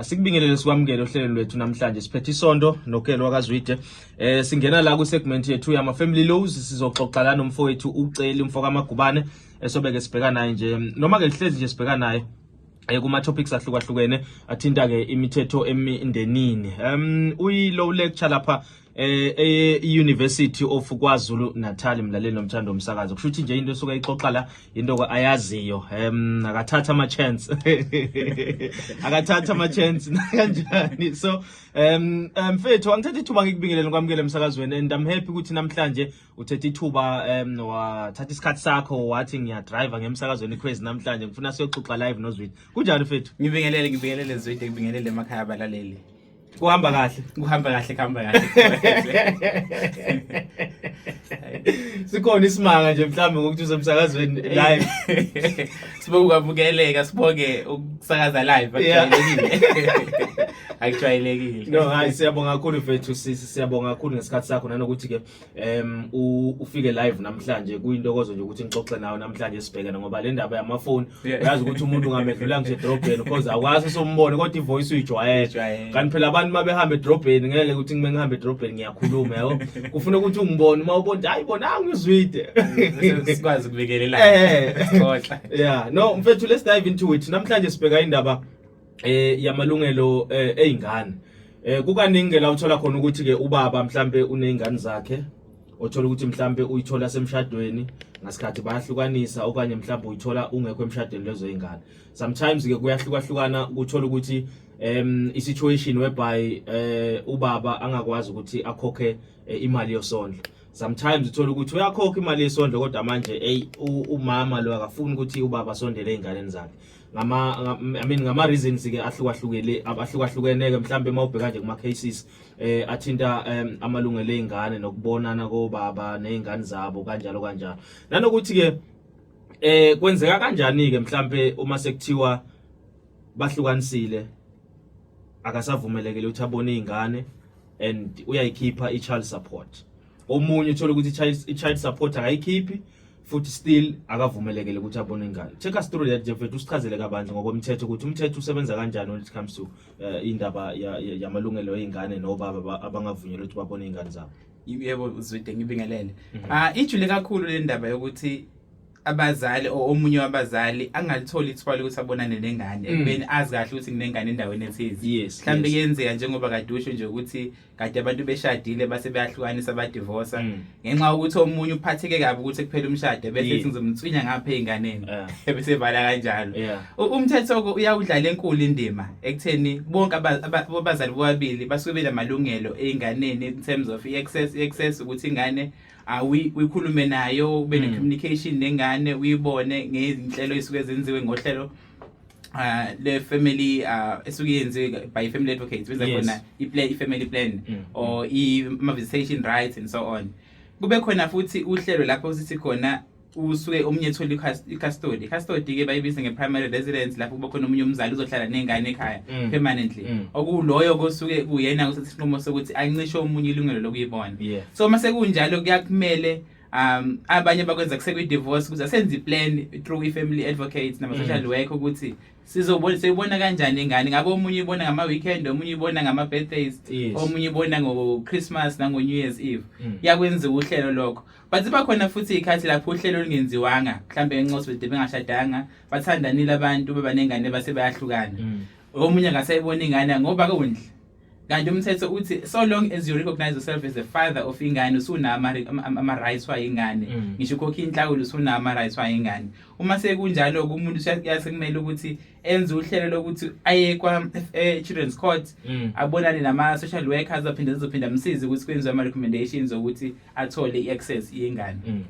Asikubingelele sikwamukele ohlelo lwethu namhlanje siphethe isonto nokelo wakazwide eh singena la ku segment yethu yama family laws sizoxoxa la nomfowethu uceli umfo kamagubane esobeke sibheka naye nje noma ke lihlezi nje sibheka naye eh, kuma topics ahlukahlukene athinta ke imithetho emindenini um uyi low lecture lapha eh e-University of KwaZulu Natal mlaleli nomthando omsakazo kusho ukuthi nje into esuka ixoxa la into ayaziyo em akathatha ama chance akathatha ama chance kanjani so em mfethu angithatha ithuba ngikubingelele kwamukele emsakazweni and i'm happy ukuthi namhlanje uthethe ithuba em wathatha isikhathi sakho wathi ngiya driver ngemsakazweni crazy namhlanje ngifuna siyoxoxa live nozwidi kunjani mfethu ngibingelele ngibingelele zwidi ngibingelele emakhaya abalaleli Kuhamba kahle. Kuhamba kahle, kuhamba kahle. Sikhona isimanga nje mhlawumbe ngokuthi usemsakazweni live. Sibonge ukwamukeleka, sibonge ukusakaza live akujwayelekile. Akujwayelekile. No, hayi siyabonga kakhulu mfethu sisi, siyabonga kakhulu ngesikhathi sakho nanokuthi ke um ufike live namhlanje kuyintokozo nje ukuthi ngixoxe nawe namhlanje sibhekene ngoba le ndaba yamafoni uyazi ukuthi umuntu ungamedlula ngisho edrobheni because akwazi sombone kodwa ivoice uyijwayele kanti phela abantu uma behamba edrobheni ngeke ukuthi ngime ngihamba edrobheni ngiyakhuluma yabo kufuna ukuthi ungibone uma ubona hayi bona angizwide sikwazi ukubikelela eh. ya no mfethu let's dive into it namhlanje sibheka indaba eh yamalungelo eh, ezingane eh kukaningi ke la uthola khona ukuthi ke ubaba mhlambe unezingane zakhe othola ukuthi mhlambe uyithola semshadweni ngasikhathi bayahlukanisa okanye mhlambe uyithola ungekho emshadweni lezo zingane sometimes ke kuyahlukahlukana ukuthola ukuthi um isituation whereby eh ubaba angakwazi ukuthi akhokhe eh, imali yosondlo sometimes uthola ukuthi uyakhokha imali yesondlo kodwa manje hey umama lo akafuni ukuthi ubaba asondele ezinganeni zakhe ngama I mean ngama reasons ke ahlukahlukene abahlukahlukene ke mhlambe mawubheka nje kuma cases eh athinta um, amalungelo ezingane nokubonana kobaba nezingane zabo kanjalo kanjalo nanokuthi ke eh kwenzeka kanjani ke mhlambe uma sekuthiwa bahlukanisile akasavumelekile ukuthi abone izingane and uyayikhipha i-child support omunye uthola ukuthi i-child support akayikhiphi futhi still akavumelekele ukuthi abone ingane take us through that jefet usichazele kabanzi ngokomthetho ukuthi umthetho usebenza kanjani when it comes to uh, indaba yamalungelo ya, ya ey'ngane nobaba abangavunyelwa ukuthi babone iy'ngane zabo yebo uzwide ngibingelele um mhm. ah, ijule kakhulu le ndaba yokuthi abazali or omunye wabazali angalitholi ithuba lokuthi abonane nengane mm. ekubeni azi kahle ukuthi nginengane endaweni ethize mhlawumbe kuyenzeka njengoba kade usho nje ukuthi um kade abantu beshadile base beyahlukanisa badivosa mm. ngenxa yokuthi omunye uphatheke kabi ukuthi kuphela umshado bese yeah. sizomtswinya ngapha ezinganeni yeah. bese vala kanjalo yeah. umthetho ke uyawudlala enkulu indima ekutheni bonke abazali bobabili basuke benamalungelo ezinganeni in terms of access access ukuthi ingane awi uyikhulume nayo ube ne mm. communication nengane uyibone ngezinhlelo esuke zenziwe ngohlelo uh, le family uh, esuke yenziwe by family advocates benza yes. khona i-plan i-family plan mm. mm. or i-visitation rights and so on kube khona futhi uhlelo lapho sithi khona usuke omunye ethola i-custody i-custody ke bayibiza nge-primary residence lapho kuba khona omunye umzali uzohlala ney'ngane ekhaya mm. permanently mm. okuloyo kosuke kuyena kusethi isinqumo sokuthi ancishe omunye ilungelo lokuyibona so uma sekunjalo kuyakumele um abanye bakwenza kusekwi-divorce kuze senze i-plan through i-family advocates nama-social mm. work ukuthi sizobona seyibona kanjani ingane ngabe omunye ibona ngama-weekend omunye ibona ngama-birthdays yes. omunye ibona ngo-christmas nango-new year's eve mm. yakwenziwa uhlelo lokho but ziba khona futhi iy'khathi lapho uhlelo olungenziwanga mhlawumbe encosi bede bengashadanga bathandanile abantu bebanengane base bayahlukana mm. omunye ngasayibona ingane ngoba kundle kanti umthetho uthi so long as you recognize yourself as the father of ingane usunama ama rights wa ingane mm. ngisho ukhokha inhlawulo usunama rights wa ingane uma sekunjalo kumuntu uyasekumele ukuthi enze uhlelo lokuthi aye kwa eh, children's court mm. abonane nama social workers aphinde zizophinda amsize ukuthi kwenziwe ama recommendations ukuthi athole iaccess yengane mm,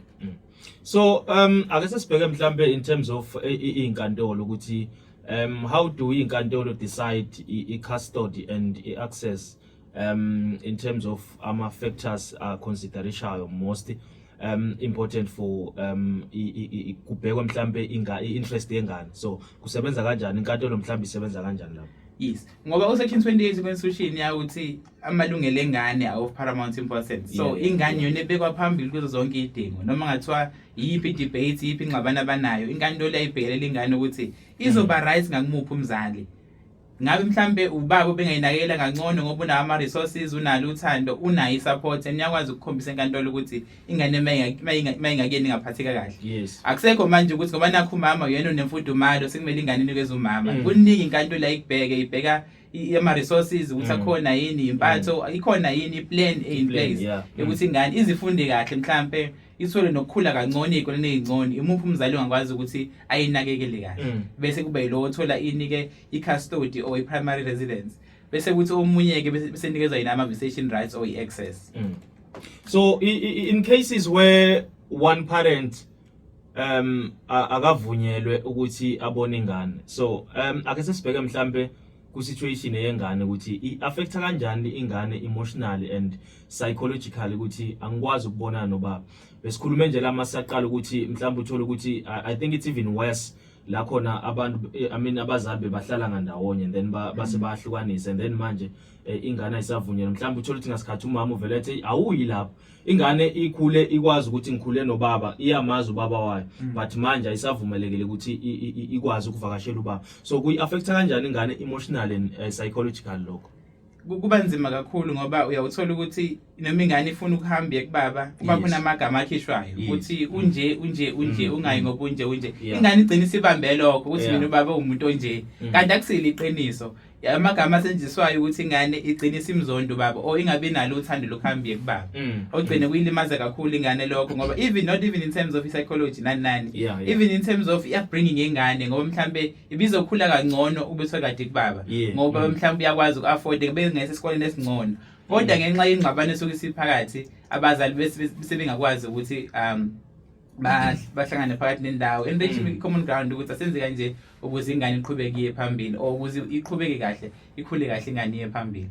so um ake sesibheke mhlambe in terms of eh, izinkantolo ukuthi Um, how do inkantolo decide i-custody and i-access um, in terms of ama-factors aconsiderishayo most um, important for um, kubhekwe mhlampe i-interest yengane so kusebenza kanjani inkantolo mhlampe isebenza kanjani lapho yes ngoba usection 28 constitution yawuthi amalungelo engane are of paramount importance so ingane yona ebekwa phambili kuzo zonke idingo noma ngathiwa iyiphi debate iyiphi ingxabano abanayo inkantolo yayibhekelela ingane ukuthi izoba mm. right ngakumuphi umzali ngabe mhlambe ubaba bengayinakekela kancono ngoba unawo ama resources unalo uthando unayo isupport and uyakwazi ukukhombisa enkantolo ukuthi ingane mayingakuyeni ingaphatheka kahle yes akusekho manje ukuthi ngoba nakho umama uyena unemfudumalo sekumele ingane inikeze umama mm. kuningi inkantolo ayikubheke ibheka ama resources ukuthi mm. akhona yini impatho mm. ikhona yini i plan e in place ukuthi ingane izifunde kahle mhlambe ithole nokukhula kancane ey'koleni ey'ncane imuphi umzali ongakwazi ukuthi ayinakekele kahle mm. bese kube yilowo othola inike i-custody or i-primary residence bese kuthi omunye-ke besenikezwa yina ama-visitation rights or i-access mm. so in cases where one parent um akavunyelwe ukuthi abone ingane so um ake sesibheke mhlampe ku-situation eyengane ukuthi i-affecta kanjani ingane emotionally and psychologically ukuthi angikwazi ukubonana nobaba besikhulume nje la masaqala ukuthi mhlawumbe uthole ukuthi i think it's even worse la khona abantu eh, i mean abazali bebahlala ngandawonye and then base mm. bahlukanise and then manje eh, ingane ayisavunyelwe mhlawumbe uthole ukuthi ngasikhathi umama uvele ethi awuyi lapho ingane ikhule ikwazi ukuthi ngikhule nobaba iyamazi ubaba wayo mm. but manje ayisavumelekile ukuthi ikwazi ukuvakashela ubaba so kuyi affecta kanjani ingane emotional and uh, psychological lokho kuba nzima kakhulu ngoba uyawuthola ukuthi noma ingane ifuna ukuhamba iye kubaba kuba khona amagama akhishwayo ukuthi unje unje unje mm, ungayi mm. ngoba unje unje ingane igcina isibambe lokho ukuthi mina ubaba uwumuntu onje mm. kanti akusile iqiniso amagama asetshenziswayo ukuthi ingane igcine isimzondo baba or ingabi nalo uthando lokuhambie kubaba mm. ogcine kuyilimaza kakhulu ingane lokho ngoba even not even in terms of psychology nani nani yeah, yeah. even in terms of upbringing yengane ngoba mhlambe ibizokhula kangcono ube sekade kubaba yeah. ngoba mm. mhlambe uyakwazi uku-afford kube ngese esikoleni esingcono kodwa mm. ngenxa yengxabano esuke isiphakathi abazali bese bengakwazi ukuthi um bahlangane phakathi nendawo and reach mm. common ground ukuthi asenze kanje ukuze ingane iqhubeke iye phambili or ukuze iqhubeke kahle ikhule kahle ingane iye phambili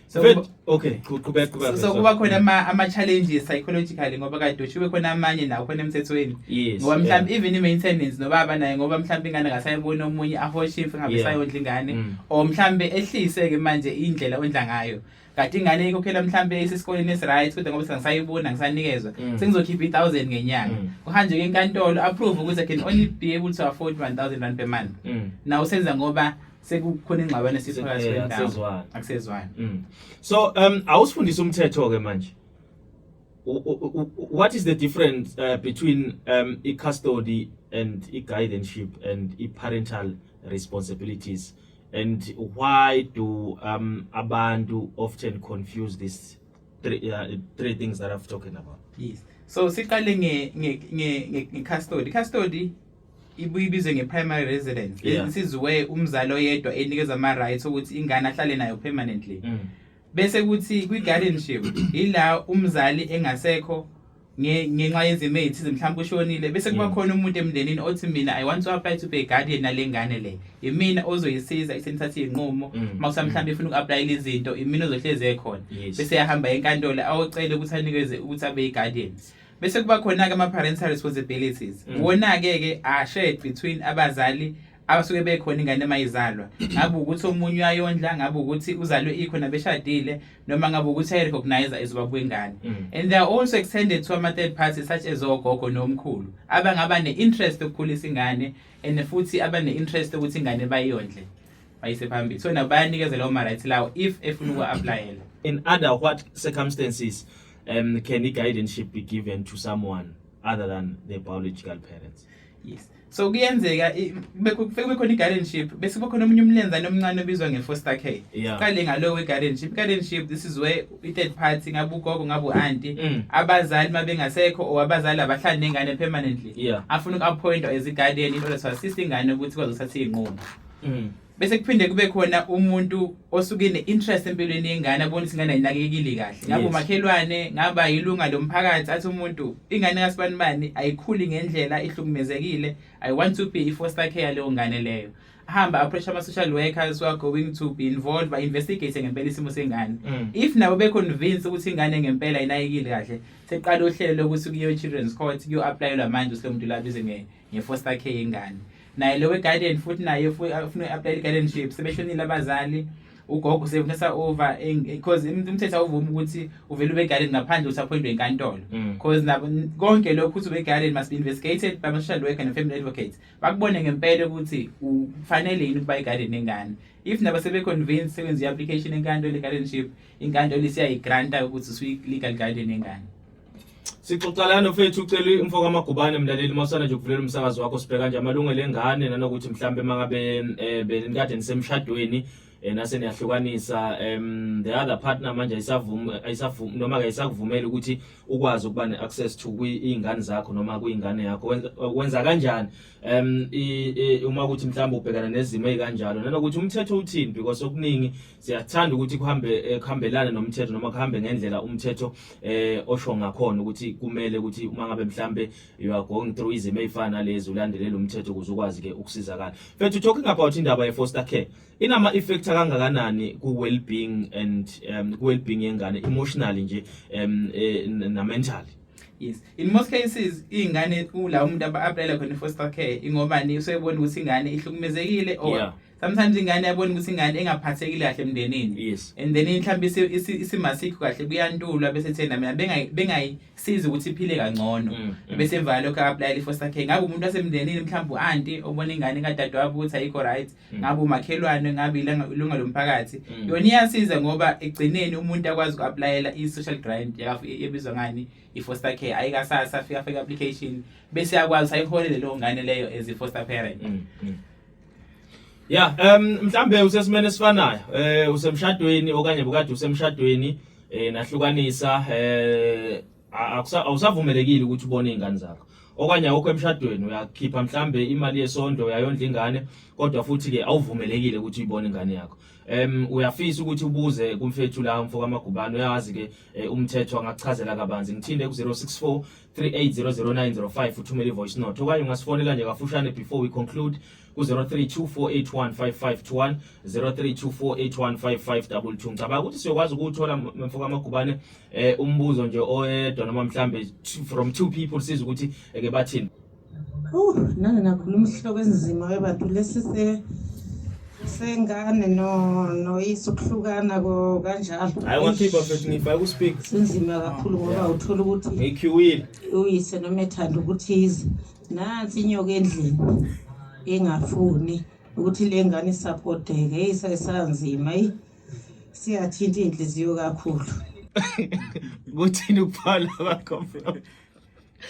so okay qhubeka qhubeka so kuba khona ama ama challenges psychologically ngoba kade ushiwe khona amanye nawo khona emthethweni ngoba mhlawumbe even i-maintenance nobaba naye ngoba mhlawumbe ingane ngasayibona omunye ahoshe imfe ngabe sayondla ingane mm. or mhlawumbe ehlise ke manje indlela ondla ngayo kade ingane ikhokhela mhlambe isesikoleni esiright kodwa ngoba sengisayibona ngisanikezwa mm. sengizokhipha i-1000 ngenyanga mm. kuhanjeke enkantolo approve ukuthi i can only be able to afford 1000 rand per month mm. naw senza ngoba sekukhona ingxabano esiphakathi kwendawo akusezwani mm. so um awusifundisa umthetho ke manje what is the difference uh, between um i-custody and i-guardianship and i-parental responsibilities and why do um, abantu often confuse these three, uh, three things that I've talking about? Yes. So siqale nge nge nge nge custody. Custody ibuyibizwe nge-primary residence yeah. isiziwe umzali oyedwa enikeza ama-rights okuthi ingane ahlale nayo permanently mm. bese kuthi kwi-guardianship yila umzali engasekho nge- ngenxa yezimo ey'thize mhlawumbe ushonile bese kuba khona umuntu emndenini othi mina i want to apply to be a guardian nale ngane le imina ozoyisiza isenithathe iy'nqumo Mm. uma kusa mhlawumbe ifuna uku-aplayela izinto imina ozohlezi ekhona Yes. bese yahamba enkantolo awocele ukuthi anikeze ukuthi abe i-guardian bese kuba khona-ke ama-parental responsibilities Mm. wona-ke-ke ashare between abazali abasuke bekhona ingane mayizalwa ngabe ukuthi omunye uyayondla ngabe ukuthi uzalwe ikho nabeshadile noma ngabe ukuthi ayirecognize izoba kwengane mm. and they are also extended to ama third parties such as ogogo nomkhulu abangaba ne-interest yokukhulisa ingane and futhi abane-interest ukuthi ingane bayondle bayise phambili so nabo bayanikeza lawo ma-rights lawo if efuna uku-aplayela in other what circumstances um, can i-guardianship be given to someone other than the biological parents yes so kuyenzeka kube khona i-guardianship bese kube khona omunye umlenzane omncane obizwa nge-foster care yeah. kale ngalowo we-guardianship i-guardianship this is where i-third party ngabe ugogo ngabe u-anti mm. abazali uma bengasekho or abazali abahlali nengane permanently yeah. afuna uku-appointwa as i-guardian in order to assist ingane ukuthi kwazothatha iy'nqumo mm. bese kuphinde kube khona umuntu osuke ne-interest empilweni yengane abona ukuthi ingane ayinakekile kahle ngabe umakhelwane ngaba yilunga lomphakathi athi umuntu ingane kasibani bani ayikhuli ngendlela ihlukumezekile i want to be i-foster care leyo ngane leyo hamba approach ama-social workers who are going to be involved ba-investigate ngempela isimo sengane mm. if nabo be-convince ukuthi ingane ngempela inayekile kahle seqala uhlelo lokuthi kuyo-children's court kuyo-aplayelwa manje usile muntu labize ngefoster care yengane naye lowe guardian futhi naye ufuna uapply guardianship sebeshonile abazali ugogo usefuna over because umthetho awuvumi ukuthi uvele ube guardian ngaphandle usaphoyindwe inkantolo because mm. nabo konke lokho ukuthi ube guardian must be investigated by social worker and family advocate bakubone ngempela ukuthi ufanele yini ukuba iguardian nengane if nabo sebe convince sebenza i-application enkantolo i-guardianship inkantolo isiyayigranta ukuthi usuyi-legal guardian engane Sixoxa lana mfethu ucela imfo kaMagubane mlaleli masana nje ukuvulela umsakazo wakho sibheka nje amalungelo engane nanokuthi mhlambe mangabe eh, benikade nisemshadweni eh, nase niyahlukanisa um the other partner manje ayisavumi ayisavumi noma ke ayisakuvumeli ukuthi ukwazi ukuba neaccess to kwiingane zakho noma kwiingane yakho wenza kanjani um uma ukuthi mhlawumbe ubhekana nezimo ezikanjalo nanokuthi umthetho uthini because okuningi siyathanda ukuthi kuhambe eh, kuhambelane nomthetho noma kuhambe ngendlela umthetho eh osho ngakhona ukuthi kumele ukuthi uma ngabe mhlambe you are going through izimo ezifana lezi ulandelele umthetho ukuze ukwazi ke ukusizakala mfethu talking about indaba ye foster care inama effect kangakanani ku well being and um, ku well being yengane emotionally nje um, eh, na mentally yes in most cases ingane kula umuntu abaaplayela khona foster care ingobani usebona ukuthi ingane ihlukumezekile or yeah. sometimes ingane yabona ukuthi ingane engaphathekile kahle emndenini yes and then mhlawumbe isimasikho kahle kuyantulwa bese thena mina bengayisizi ukuthi iphile kangcono mm, mm. bese emva lokho apply for sakhe ngabe umuntu wasemndenini mhlawumbe uanti obona ingane kadade wabo ukuthi ayikho right mm. ngabe umakhelwane ngabe ilunga lomphakathi yona iyasiza ngoba egcineni umuntu akwazi ukuapplyela i-social grant ebizwa ngani i-foster care ayikasasa afika afika application bese yakwazi ukuthi ayiholele leyo ngane leyo as i-foster parent Yeah, um mhlambe usesimene esifanayo. Eh usemshadweni okanye bukade usemshadweni eh nahlukanisa eh awusavumelekile ukuthi ubone izingane zakho. Okanye awukho emshadweni uyakhipha mhlambe imali yesondlo uyayondla ingane kodwa futhi ke awuvumelekile ukuthi uyibone ingane yakho. Em uyafisa ukuthi ubuze kumfethu la umfoka Magubane uyazi ke eh, umthetho angakuchazela kabanzi. Ngithinde ku 064 0800900905 uthumele ivoice note okanye ungasifonela nje kafushane before we conclude ku-0324815521 0324815522 ngicabanga ukuthi siyokwazi ukuwuthola mfoka amagubane um eh, umbuzo nje oyedwa noma mhlambe from two people siza ukuthi eke bathini Uh, nami ngakhuluma isihloko esinzima webantu lesi se sengane no noyise ukuhlukana ko kanjalo hayi ungakhipha mfethu ngifake ku-speak sinzima kakhulu ngoba uthola ukuthi ngikhiwile uyise noma ethanda ukuthi ize nansi inyoka endlini engafuni ukuthi le ngane isapoteke eyi sayisanzima eyi siyathinta iy'nhliziyo kakhulu kuthini ukuphala kwakho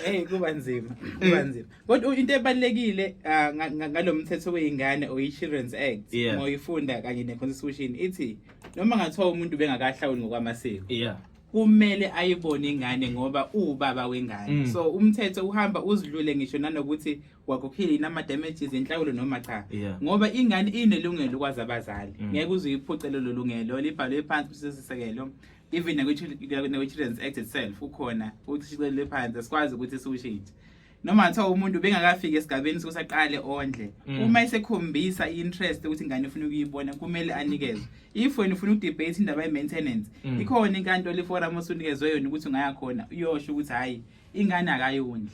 Hey kuba nzima, kuba nzima. Kodwa into ebalekile ah, ngalomthetho weingane or Children's Act yeah. moyifunda kanye ne constitution ithi noma ngathiwa umuntu bengakahlawuli ngokwamasiko. Yeah. kumele ayibone ingane ngoba uwubaba wengane mm. so umthetho uhamba uzidlule ngisho nanokuthi wakhokhile yini ama-damages inhlawulo noma cha yeah. ngoba ingane inelungelo ukwazi abazali mm. ngeke uze uyiphuce lelo lungelo libhalwe phansi kusisekelo even nakwi-children's act itself ukhona ushicilele phansi asikwazi ukuthi siwushintshe noma kuthiwa umuntu bengakafiki esigabeni sokuthi aqale ondle mm. uma esekhombisa i-interest ukuthi ingane ifuna ukuyibona kumele anikezwe if wena ufuna ukudebate indaba ye-maintenance mm. ikhona inkantolo iforum osunikezwe yona ukuthi ungayakhona uyosho ukuthi hhayi ingane akayondli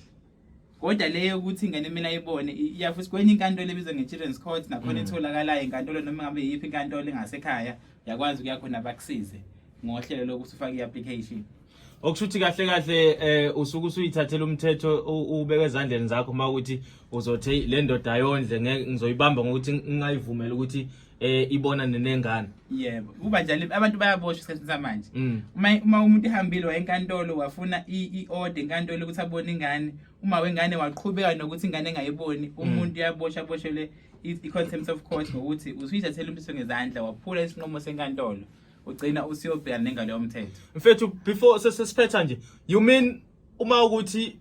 kodwa le yokuthi ingane mina ayibone iyafuthi kwenye inkantolo ebizwa nge-children's court nakhona mm. etholakalayo inkantolo noma ngabe yiphi inkantolo engasekhaya uyakwazi ukuya khona bakusize ngohlelo lokuthi ufake i-application okusho ukuthi kahle kahle um usuke usuyithathela umthetho ubeke ezandleni zakho uma ukuthi uzothi le ndoda yondle ngizoyibamba ngokuthi ngingayivumela ukuthi eh ibona nenengane yebo kuba njalo abantu bayaboshwa isikhathi samanje mm. uma uma umuntu ehambile wayenkantolo wafuna i-order enkantolo ukuthi abone ingane uma wengane waqhubeka nokuthi ingane engayiboni mm. umuntu uyaboshwa boshelwe i-contempt of court ngokuthi usuyithathela umthetho ngezandla waphula isinqumo senkantolo ugcina usiyobhekana nengalo yomthetho mfethu before sesiphetha nje you mean uma ukuthi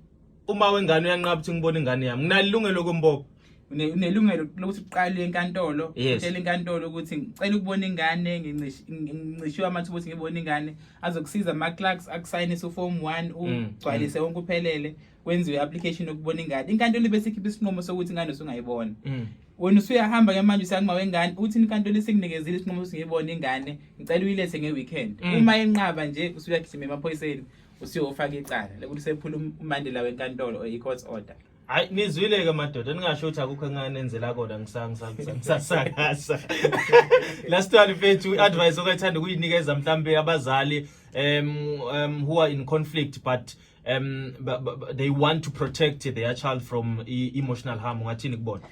uma wengane uyanqaba ukuthi ngibona ingane yami nginalilungelo lokumbopha une- unelungelo lokuthi uqale enkantolo Yes. utshele inkantolo ukuthi ngicela ukubona ingane ngincish- ngi- ngicishiwe amathuba ukuthi ngibone ingane azokusiza ama-clerks akusayinise uform one Mm, ugcwalise wonke uphelele kwenziwe i-application yokubona ingane inkantolo ibe sikhipha isinqumo sokuthi ingane usungayibona Mm. wena usuyahamba ke manje usakuma wengane uthi inkantolo isinginikezile isinqumo sokuthi ngiyibone ingane ngicela uyilethe nge-weekend Mm. uma yenqaba nje usuyagijima emaphoyiseni usiwe ufake icala lokuthi sephula um- umandela wenkantolo or i-court order hayi nizwile ke madoda ningasho ukuthi akukho enganenzela kona ngisa- ngisa- ngisa- ngisasakasa last one mfethu i-advice okayithanda ukuyinikeza mhlampe abazali um, um, who are in conflict but um, ba- ba- ba- they want to protect their child from e- emotional harm ungathini kubona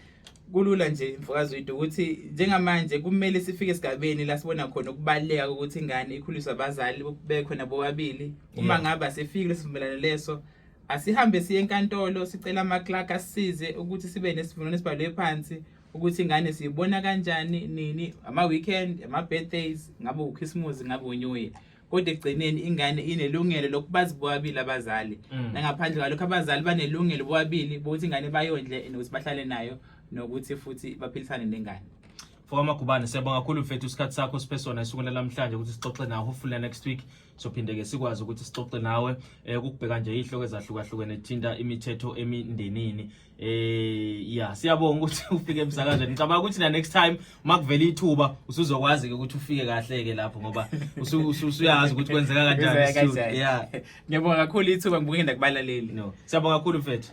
kulula nje mfokazi wethu ukuthi njengamanje kumele sifike esigabeni la sibona khona ukubaluleka kokuthi ingane ikhuliswe abazali bekhona bobabili uma ngaba sefikile sivumelana leso asihambe siye enkantolo sicela ama-clark asisize ukuthi sibe nesivumelwano esibhalwe phansi ukuthi ingane siyibona kanjani nini ama-weekend ama-birthdays ngabe ukhisimusi ngabe unyuye kodwa ekugcineni ingane inelungelo lokubazi bobabili abazali mm. nangaphandle kwalokho abazali banelungelo bobabili bokuthi ingane bayondle nokuthi bahlale nayo nokuthi futhi baphilisane nengane Fokamagubane siyabonga kakhulu mfethu isikhathi sakho siphe sona esukwini namhlanje ukuthi sixoxe nawe hopefully next week sophinde ke sikwazi ukuthi sixoxe nawe eh, ukubheka nje izihloko ezahlukahlukene ethinta imithetho emindenini Eh yeah siyabonga ukuthi ufike emsakazweni. Ngicabanga ukuthi na next time makuvela ithuba usuzokwazi ke ukuthi ufike kahle ke lapho ngoba usuyazi ukuthi kwenzeka kanjani. Yeah. Ngiyabonga kakhulu ithuba ngibukenda kubalaleli. No. Siyabonga kakhulu mfethu.